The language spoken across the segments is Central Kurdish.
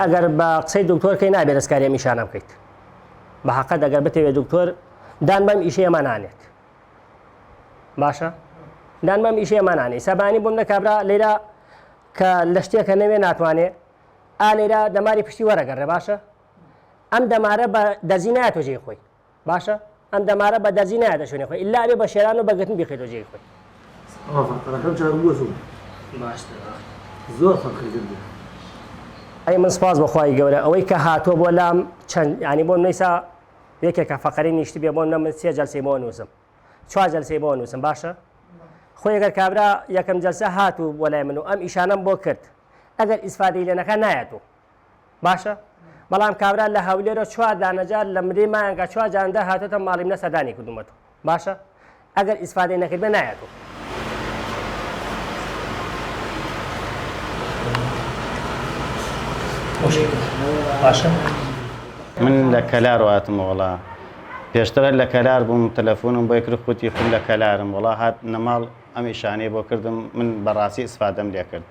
ئەگەر بە قسەی دکتۆر کەی نابێ دەستکاری ئەم ئیشانە بکەیت بە حەقەت ئەگەر بتەوێت دکتۆر دان بەم ئیشی ئەمە نانێت باشە دان بەم ئیشی ئەمە نانێ سەبانی بووم لە کابرا لێرا کە لە شتێکە نەوێ ناتوانێ ئا لێرا دەماری پشتی وەرەگەڕێ باشە ئەم دەمارە بە دەزی ناتۆجێ خۆی باشە ئەم دەمارە بە دەرزی نایەتە شوێنی خۆی ئللا ئەبێ بە شێران و بە گرتن بیخەیتەوە جێی خۆی ئاغا قەرەکەم جار بووە زۆر باشتر زۆر فەرقی کرد بوو ئەی من سپاس بەخوای گەورە ئەوەی کە هاتووە بۆ لام چەند ینی بۆم نیسا یەکێکە فەقەری نیشتی بێ بۆم نەمن سێ جلسی بۆ نووسم چوار جلسی بۆ نووسم باشە خۆی گەر کابرا یەکەم جلسە هات و بۆ لای من و ئەم ئیشانم بۆ کرد ئەگەر ئیسفادەی لێنەکە نایەت و باشە بەڵام کابرا لە هەولێرە چوار دانەجار لە مدەی مایانگا چوار جاندە هاتۆتە ماڵی منە سەردانی کردومەتەوە باشە ئەگەر ئیسفادەی نەکردبێ نایەتەوە باشە من لە کەلار واتم وڵا پێشترە لە کەلار بووم تەلەفۆنم بۆی کرد خوتی خم لە کەلارم وڵا هات نەماڵ ئەم ئیشانەی بۆ کردم من بەڕاستی ئیسفادەم لێ کرد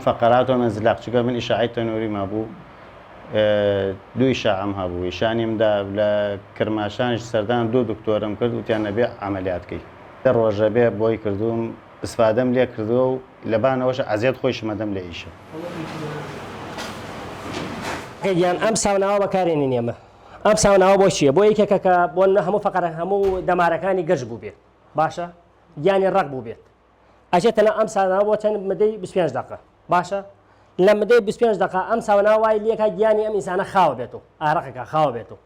فقرات و مزلق چونکە من ئیشاعەی تەنووریم هەبوو دوو ئیشاعەم هەبوو ئیشانیم دا لە کرماشانیش سەردان دوو دکتۆرم کرد وتیان نەبێ عەمەلیات کەی دە ڕۆژە بێ بۆی کردووم ئیسفادەم لێ کردووە و لەبانەوەش عەزیەت خۆیشم ئەدەم لە ئیشە. گیان ئەم ساوناوە بەکارێنین ئێمە ئەم ساوناوە بۆ چییە بۆ یەکێکە کە بۆ هەموو فقرە هەموو دەمارەکانی گەش بووبێت باشە گیانی ڕق بووبێت ئەچێ تەنە ئەم ساناوە بۆ چەند مدەی بیست پێنج دەقە باشە لە مدەی بیست پێنج دەقە ئەم ساونا وای لەکە گیانی ئەم ئینسانە خاوە بێت و ئارەقەکە خاوە بێت و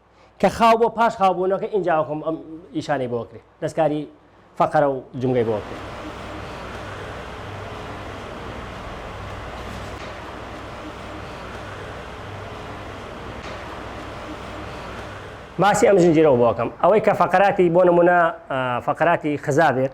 کە خاو بۆ پاش خاوبوونەکە ئینجاوەکەم ئەم ئیشانەی بۆ کرێ دەستکاری فەقەرە و جمگەی بۆ کرێ باسی ئەم زنجیرەوە بۆکەم ئەوەی کە فقراتی بۆ نمونە فقراتی خزا بێت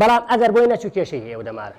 بەڵام ئەگەر بۆی نەچوو کێشەی هەیە و دەمارە.